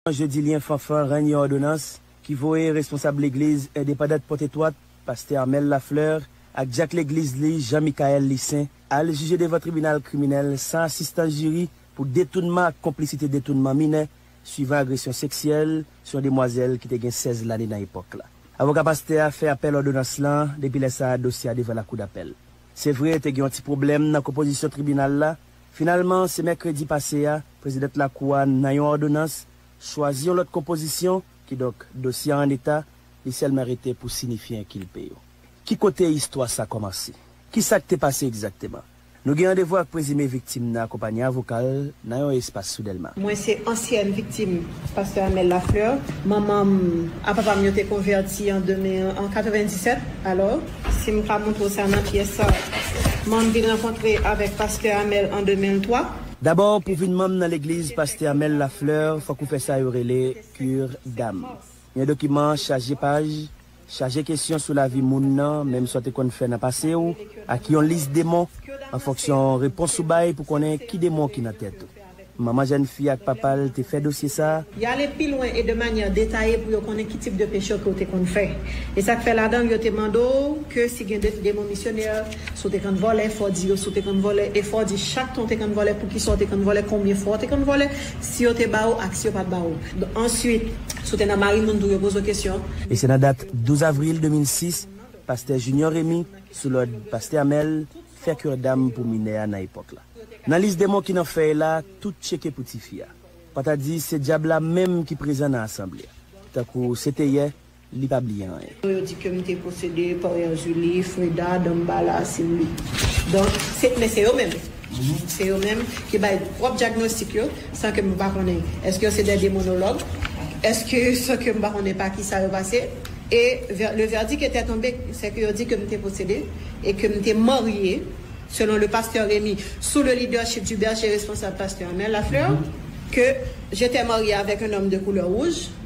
Mòn Jodilyen Fanfan rann yon òdonans ki voye responsab legliz endepandant Pòtetwat, pastè Armel Lafleur ak dyak legliz li Jean Michaël Lissaint al jije devan tribinal kriminèl san asistans jiri pou detounman ak konplisite detounman minè swivan agresyon seksyèl sou yon demwazèl ki te gen 16 lane nan epòk la. Avoka pastè a fè apèl òdonans lan, depi lè sa a dosye a devan lakou dapèl. Se vre te gen yon ti pwoblèm nan konpozisyon tribinal la, Finalman, se mèkredi pase a, prezidant Lakou a, nan yon òdonans, chwazi yon lòt konpozisyon, kidonk, dosye a anneta, li sèlman rete pou sinifye enkilpe yo. Ki kote istwa sa kòmanse? Ki sa k te pase egzakteman? Nou gen randevou ak prezime viktim nan akonpanye avoka l nan yon espas sou Dèlma. Mwen se ansyèn viktim Pastè Amel Lafleur, Manman m a papa m yo te konvèti an 97. Alò, si m ka montre w sa nan pyès sa, Manman m vin rankontre avèk pastè Amel an 2003. Dabò, pou w vin manm nan legliz pastè Amel Lafleur, fòk ou fè sa yo rele Cure d'âme. Yon dokiman chaje paj Chaje kesyon sou lavi moun nan, menm sa w te konn fè nan pase w, ak yon lis demon, an fonksyon repons ou bay pou konnen ki demon ki nan tèt ou. Manman jèn fi ak papa l te fè dosye sa a. Y ale pi lwen e de manyè detaye pou yo konnen ki tip de peche ke w te konn fè. E sa k fè ladan l yo te mande w ke si gen demon misyonè. Si w te konn vòlè, fò w di yo si w te konn vòlè e fò w di chak tan w te konn vòlè, poukisa w te konn vòlè, konbyen fwa w te konn vòlè, si yo te ba ou ak si yo pa t ba ou. Answit, si w te nan mari moun tou, yo poze w kesyon. E se nan dat 12 avril 2006, pastè Junior Rémy, sou lòd pastè Amel, fè kirdam pou minè a nan epòk la. Nan lis demon ki nan fèy la, tout tcheke pou tifi a. Pa ta di se dyab la menm ki prezan nan asanble a. Tankou se te yè, li pa bliye anyen. Pou yo di ke m te posede Porian Julie, Freda, Dambala, Cindy. Donk, se, men se yo menm. Se yo menm ki bay pwòp dyagnostik yo, san ke m pa konnen èske yo se dè demonològ, èske san ke m pa konnen pa kisa yo pase. E, vè, le verdict etè tonbe, sè ke yo di ke m te posede e ke m te marye, selon le Pasteur Remy, sou le leadership du berger responsable Pasteur Amel Lafleur, ke j'etè marye avèk un homme de couleur rouge.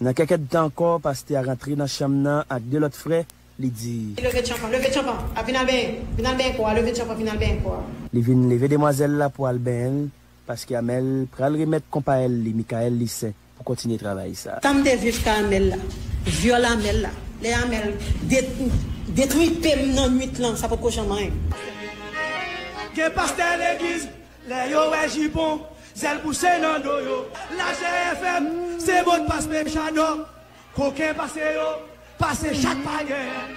Nan kèk èdtan ankò, pastè a rantre nan chanm nan ak de lòt frè, li di. Leve tchanpan, leve tchanpan a, vin al benyen, vin al benyen kò a, leve tchanpan, vin al benyen kò a. Li vin leve demwazèl la pou al benyen l, paske Amèl pral remèt konpayèl li Mikaèl Lisen pou kontinye travay sa. Tan m te viv ka Amèl la, vyòl Amèl la, lè Amèl de, detripe m nan nuit lan, sa potko janm anyen. Gen pastè legliz Lè yo wè jipon, zèl pouse nan do yo. Lajè FM, se mot pas menm Jadò. Koken pase yo, pase chat pa gen.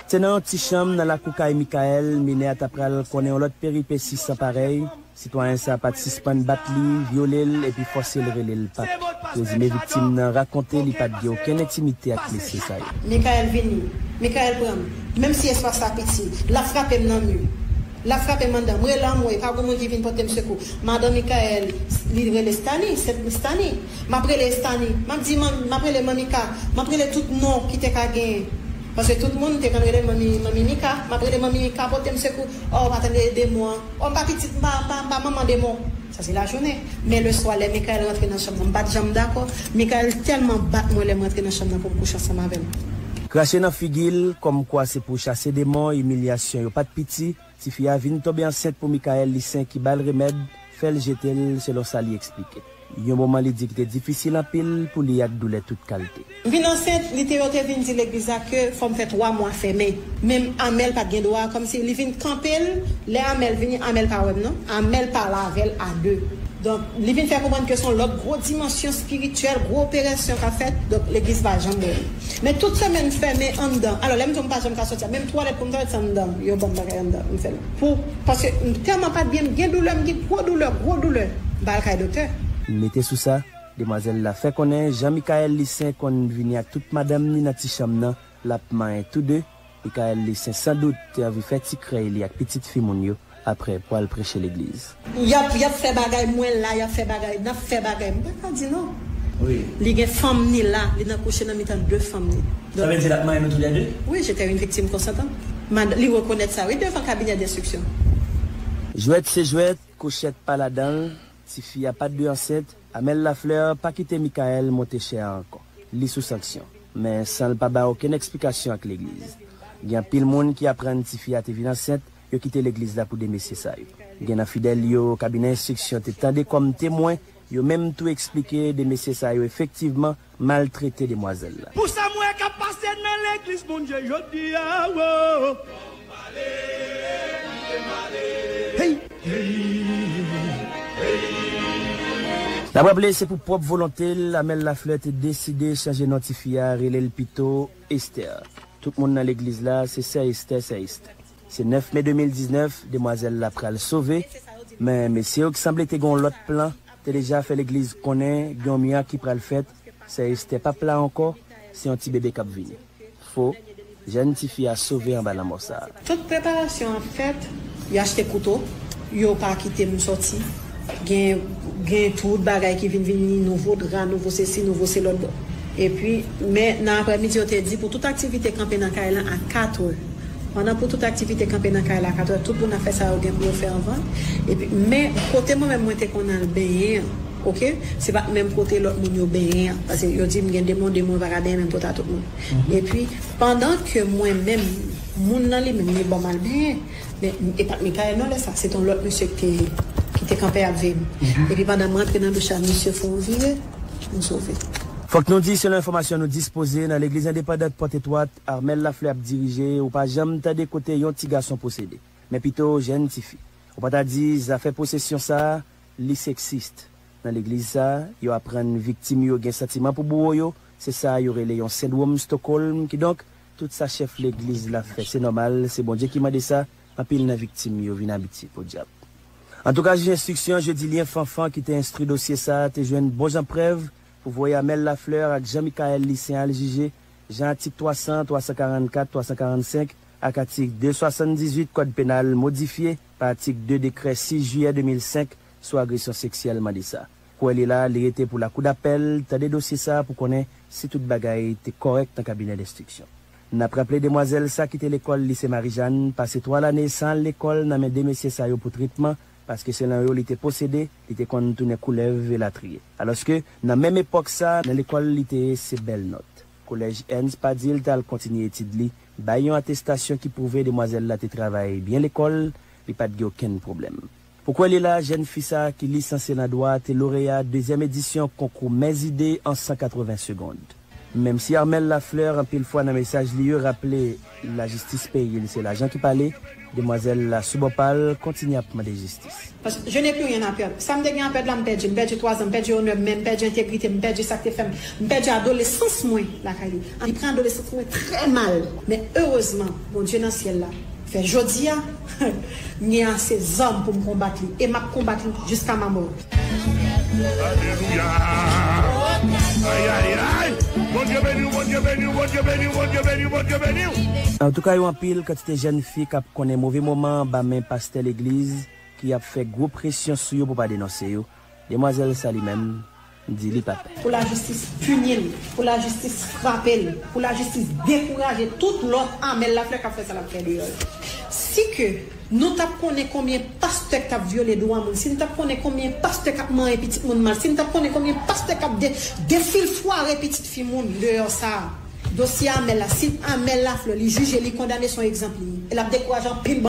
Se nan yon ti chanm nan lakou kay Mickaël, minè a ta pral konnen yon lòt peripesi san parèy, sitwayen sa pat sispann bat li, vyole l epi fòse l rele l Pap. Prezime viktim nan rakonte li pat gen okenn entimite ak mesye sa yo. Mickaël vini, Mickaël pran m, menm si espas la piti, l ap frape m nan mi. Lap frape mandan. M rele anmwey pa gon moun ki vin potem sekou. Madan Mickaël li rele Stani, se Stani. Map rele Estani. Map di manmi, map rele manmi Ka. Map rele tout non ki te ka genyen. Paske tout moun te konn rele l manmi, manmi Mika. Map rele manmi Mika potem sekou. Oh pa tande demon an. Oh m pa pitit, m pa, m pa, m pa manman demon. Sa se lajounen. Men leswa lè Michael rantre nan chanm nan, m pa t janm dakò. Michael tèlman bat mwen lè m rantre nan chanm nan pou m kouche ansanm avè l. Krache nan figi l, kòmkwa se pou chase demon, imilyasyon yo pa t piti. Tifi a vin tonbe ansent pou Michael li sen ki ba l remèd, fè l jete l, selon sa li eksplike. Yon moman li di ki te difisil anpil pou li ak doulè tout kalte. M vin ansent li te yo te vin di legliz la ke fòm fè 3 mwa fèmen. Menm Amel pat gen dwa kòmsi li vin kanpel lè Amel vini Amel pa wèm non Amel pale avèl a 2 donk li vin fè konprann ke son lòt gwo dimansyon spirityèl gwo operesyon kap fèt donk legliz pa janm wèm men tout semèn m fèmen anndan alò lèm di w m pa janm ka sòti a menm twalèt poum twalèt se anndan yo banm bagay anndan m fèl pou paske m tèlman pat byen m gen doulè m gen gwo doulè gwo doulè m pa al kay doktè. Mete sou sa, Demwazèl la fè konnen jan Mickaël Licin konn vini ak tout madanm ni nan ti chanm nan, l ap manyen tou de. Mickaël Licin san dout te anvi fè ti krèy li ak pitit fi moun yo aprè pou al preche legliz. Y ap y ap fè bagay mwen la y ap fè bagay n ap fè bagay m pa ka di non. Li gen fanm ni la, li nan kouche nan mitan de fanm ni. Sa vle di l ap manyen nou tou lè de? Wi, j'étais une victime consentante. Mada li rekonèt sa wi devan kabinè denstriksyon. Jwèt se jwèt, kouchèt pa ladan l, Tifi a pat dwe ansent. Amel Lafleur pa kite Mickaël monte chè a ankò. Li sou sanksyon. Men san l pa bay okenn eksplikasyon ak legliz. Gen anpil moun ki aprann tifi a te vin ansent, yo kite legliz la pou 2 mesye sa yo. Gen nan fidèl yo kabinè enstriksyon te tande kòm temwen, yo menm tou eksplike 2 mesye sa yo efektivman maltrete demwazel la. Pou sam wè kap pase nan legliz Bondye jodia woo. Fòm pale pou tem ale. Hey hey hey. Nap raple se pou pwòp volonte l Amel Lafleur te deside chanje non tifi a rele l pito Esther. Tout moun nan legliz la se sè Esther sè Esther. Se 9 me 2019 demwazèl la pral sove, men mesye yo ki sanble te gen yon lòt plan te deja fè legliz konnen gen yon mirak ki pral fèt, sè Estè p ap la ankò, se yon ti bebe k ap vini. Fo, jèn tifi a sove anba lanmò sa a. Tout preparasyon an fèt, y achte kouto, yo pa kite m sòti. Gen tout bagay ki vin vini, nouvo dra, nouvo sesi, nouvo selòt bon. Epi, men, nan aprèmidi yo te di pou tout aktivite kanpe nan kay lan a 4 è. Pandan pou tout aktivite kanpe nan kay la a 4 è, tout moun ap fè sa yo gen pou yo fè anvan. Epi, men, kote mwen menm mwen te konn al benyen an, oke, se pa t menm kote lòt moun yo benyen an. Pase yo di m gen demon, demon yo pa ka benyen menm kot a tout moun. Epi, pandan ke mwen menm, moun lan li menm li ban m al benyen. Men, e pa t Mikayèl non lè sa a, se te yon lòt mesye ki te kanpe ap veye m. Epi pandan m rantre nan douch la, misye fè yon vire, m sove. Fòk nou di, selon enfòmasyon nou dispoze, nan legliz endepandant Pòt Etwat, Armel Lafleur ap dirije, ou pa janm tande kote yon ti gason posede. Men pito, jenn ti fi. Ou pa ta di, zafè posesyon sa a, li seksist. Nan legliz sa a, yo aprann viktim yo gen santiman pou bouwo yo, se sa a yo rele yon sendwom Stockholm, kidonk, Tout sa chèf legliz la fè se nòmal, se Bondye ki mande sa, anpil nan viktim yo vin abitye. Podyab! Antouka jij enstriksyon Jedilyen Fanfan ki te enstri dosye sa te jwenn bon jan prèv pou voye Amel Lafleur ak Jean Michaël Lucien al jije jan atik 300, 344, 345 ak atik 278 kòd penal modifye pa atik 2 dekrè 6 jiyè 2005 sou agresyon seksyèl mande sa. Kouwè li la, li rete pou lakou dapèl tande dosye sa pou konnen si tout bagay te kòrèk nan kabinè denstriksyon. N ap raple demwazèl sa kite lekòl Lise Marijàn, pase 3 lane san al lekòl nan men 2 mesye sa yo pou tretman, paske selon yo li te posede, li te konn tounen koulèv elatriye. Alòske nan menm epòk sa, nan lekòl li te ye se bèl nòt. Kolèj Ernst pa di l t al kontinye etid li, bay yon atestasyon ki pwouve demwazèl la te travay byen lekòl, li pa t gen okenn pwoblèm. Ou kwè li la, jèn fi sa ki lisansye nan dwa te loreya dezyèm edisyon konkou Mè Zide an 180 segond. Menm si Armelle Lafleur anpil fwa nan mesaj li yo raple lajistis peyi l se lajan ki pale, demwazèl la sou bò pa l kontinye ap mande jistis. Paske je n'ai plus rien à perdre. Sa m te gen a pèd la m pèdi. M pèdi twazan, m pèdi onè mwen, m pèdi entegrite m, m pèdi sa k te fè m, m pèdi adolesans mwen lakay li. Li pran adolesans mwen trè mal. Men erezman Bondye nan syèl la fè jodi a. M gen ase zam pou m konbat li, e m ap konbat li jiska ma mò. Alelouya ayayayy Bondye beniw Bondye beniw Bondye beniw Bondye beniw Bondye beniw. Antouka yo anpil kantite jèn fi kap konnen move moman anba men pastè legliz ki ap fè gwo presyon sou yo pou pa denonse yo, demwazèl sa li menm, di li pap. Pou lajistis pini l, pou lajistis frape l, pou lajistis dekouraje tout lòt Amel Lafleur kap fè sa lap fè deyò yo. Si ke nou tap konnen konbyen pastè kap vyole dwa moun, si n tap konnen konbyen pastè kap manyen pitit moun mal, si n tap konnen konbyen pastè kap defilfware pitit fi moun deyò sa a. Dosye Amel la, si Amel Lafleur li jije, li kondane son egzanp li ye. E lap dekouraje anpil.